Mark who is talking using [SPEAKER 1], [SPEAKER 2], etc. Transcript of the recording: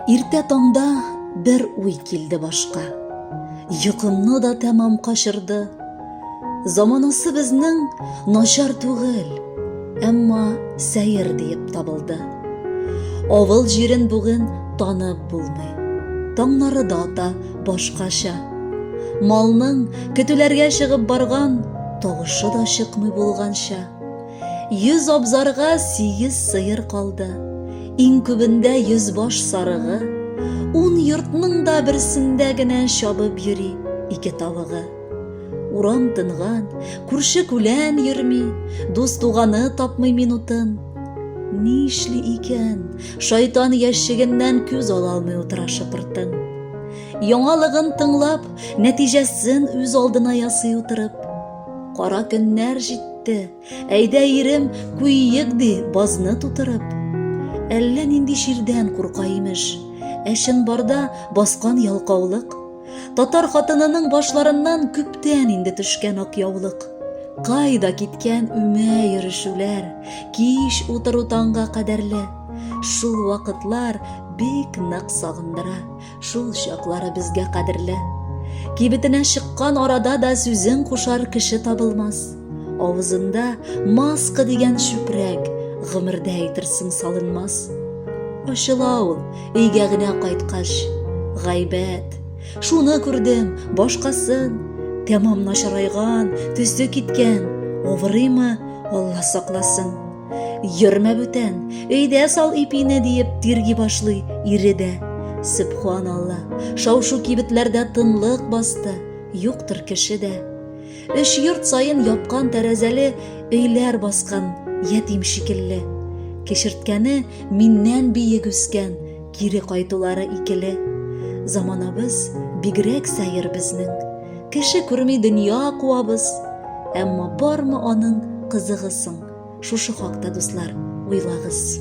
[SPEAKER 1] Иртә таңда бер уй килде башка. Йокымны да тәмам качырды. Заманасы безнең начар түгел, әмма сәер диеп табылды. Авыл җирен бүген танып булмый. Таңнары да ата башкача. Малның көтүләргә чыгып барган тавышы да чыкмый булганча. Йөз абзарга сигез сыер калды. Иң күбендә йөз баш сарыгы, ун йортның да берсендә генә чабып йөри ике тавыгы. Урам тынган, күрше күлән йөрми, дус туганы тапмый минутын. Ни эшли икән, шайтан ящигеннән күз ала алмый утыра шыпыртын. Яңалыгын тыңлап, нәтиҗәсен үз алдына ясый утырып, Кара көннәр җитте, әйдә ирем, куйыйк ди базны тутырып. Әллә нинди чирдән курка имеш, ә чынбарда баскан ялкаулык. Татар хатынының башларыннан күптән инде төшкән ак яулык. Кайда киткән үмә йөрешүләр, кич утыру таңга кадәрле. Шул вакытлар бик нык сагындыра, Шул чаклары безгә кадерле. Кибетенә чыккан арада да сүзен кушар кеше табылмас. Авызында маска дигән чүпрәк, гомердә әйтерсең салынмас. Ачыла ул, өйгә генә кайткач, гайбәт. Шуны күрдем, башкасын. Тәмам начарайган, төсе киткән. Авырыймы, Алла сакласын. Йөрмә бүтән, өйдә сал ипине диеп тирги башлый ире дә. Сөбханалла, шау-шу кибетләрдә тынлык басты, юктыр кеше дә. Өч йорт саен япкан тәрәзәле өйләр баскан, ятим шикелле. Кешерткәне миннән биек үскән, кире кайтулары икеле. Заманабыз бигрәк сәер безнең. Кеше күрми дөнья куабыз, әмма бармы аның кызыгы соң? Шушы хакта, дуслар, уйлагыз.